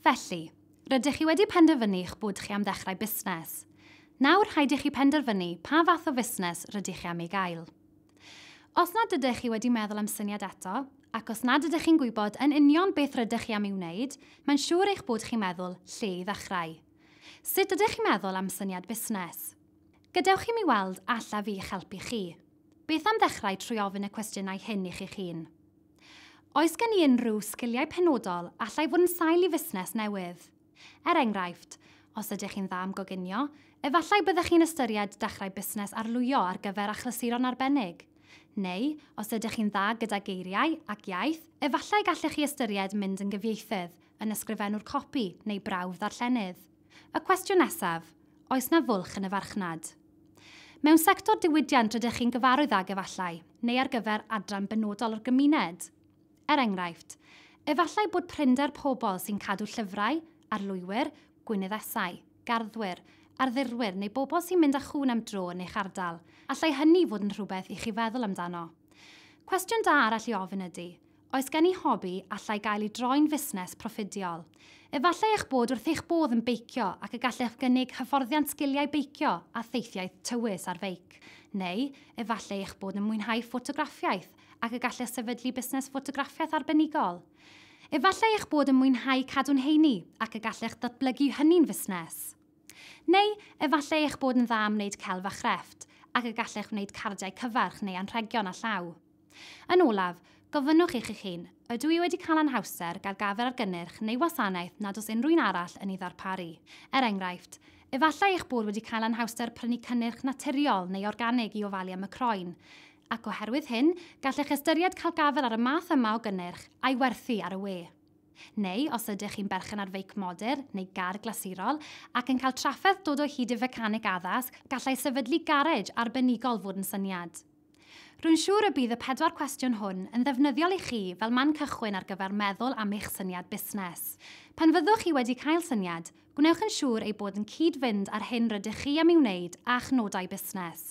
Felly, rydych chi wedi penderfynu eich bod chi am ddechrau busnes. Nawr rhaid i chi penderfynu pa fath o fusnes rydych chi am ei gael. Os nad ydych chi wedi meddwl am syniad eto, ac os nad ydych chi'n gwybod yn union beth rydych chi am ei wneud, mae'n siŵr eich bod chi'n meddwl lle i ddechrau. Sut ydych chi'n meddwl am syniad busnes? Gadewch i mi weld allaf i eich helpu chi. Beth am ddechrau trwy ofyn y cwestiynau hyn i chi'ch hun. Oes gen i unrhyw sgiliau penodol allai fod yn sail i fusnes newydd? Er enghraifft, os ydych chi'n dda am goginio, efallai byddech chi'n ystyried dechrau busnes arlwyo ar gyfer achlysuron arbennig. Neu, os ydych chi'n dda gyda geiriau ac iaith, efallai gallech chi ystyried mynd yn gyfieithydd, yn ysgrifennwr copi neu brawf ddarllenydd. Y cwestiwn nesaf, oes na fwlch yn y farchnad? Mewn sector diwydiant rydych chi'n gyfarwydd ag efallai, neu ar gyfer adran benodol o'r gymuned? Er enghraifft, efallai bod prinder pobl sy'n cadw llyfrau, arlwywyr, gwyneddesau, garddwyr, arddurwyr neu bobl sy'n mynd â chŵn am dro yn eich ardal, allai hynny fod yn rhywbeth i chi feddwl amdano? Cwestiwn da arall i ofyn ydy, Oes gen i hobi allai gael ei droi'n fusnes proffidiol? Efallai eich bod wrth eich bodd yn beicio ac y gallech gynnig hyfforddiant sgiliau beicio a theithiaeth tywys ar feic. Neu, efallai eich bod yn mwynhau ffotograffiaeth ac y gallech sefydlu busnes ffotograffiaeth arbenigol. Efallai eich bod yn mwynhau cadw'n heini ac y gallech ddatblygu hynny'n fusnes. Neu, efallai eich bod yn dda am wneud celf a chrefft ac y gallech wneud cardiau cyfarch neu anrhegion â llaw. Yn olaf, gofynnwch i chi'ch hun, 'Ydw i wedi cael anhawster gael gafael ar gynnyrch neu wasanaeth nad oes unrhywun arall yn ei ddarparu? Er enghraifft, efallai eich bod wedi cael anhawster prynu cynnyrch naturiol neu organig i ofalu am y croen, ac oherwydd hyn, gallech ystyried cael gafael ar y math yma o gynnyrch a'i werthu ar y we. Neu, os ydych chi'n berchen ar feic modur neu gar glasurol ac yn cael trafferth dod o hyd i fecanic addas, gallai sefydlu garej arbenigol fod yn syniad. Rwy'n siŵr y bydd y pedwar cwestiwn hwn yn ddefnyddiol i chi fel man cychwyn ar gyfer meddwl am eich syniad busnes. Pan fyddwch chi wedi cael syniad, gwnewch yn siŵr ei bod yn cyd-fynd â'r hyn rydych chi am ei wneud a'ch nodau busnes.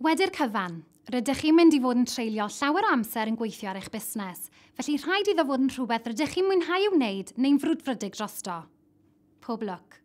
Wedi'r cyfan, rydych chi'n mynd i fod yn treulio llawer o amser yn gweithio ar eich busnes, felly rhaid iddo fod yn rhywbeth rydych chi'n mwynhau ei wneud neu'n frwdfrydig drosto. Pob lwc!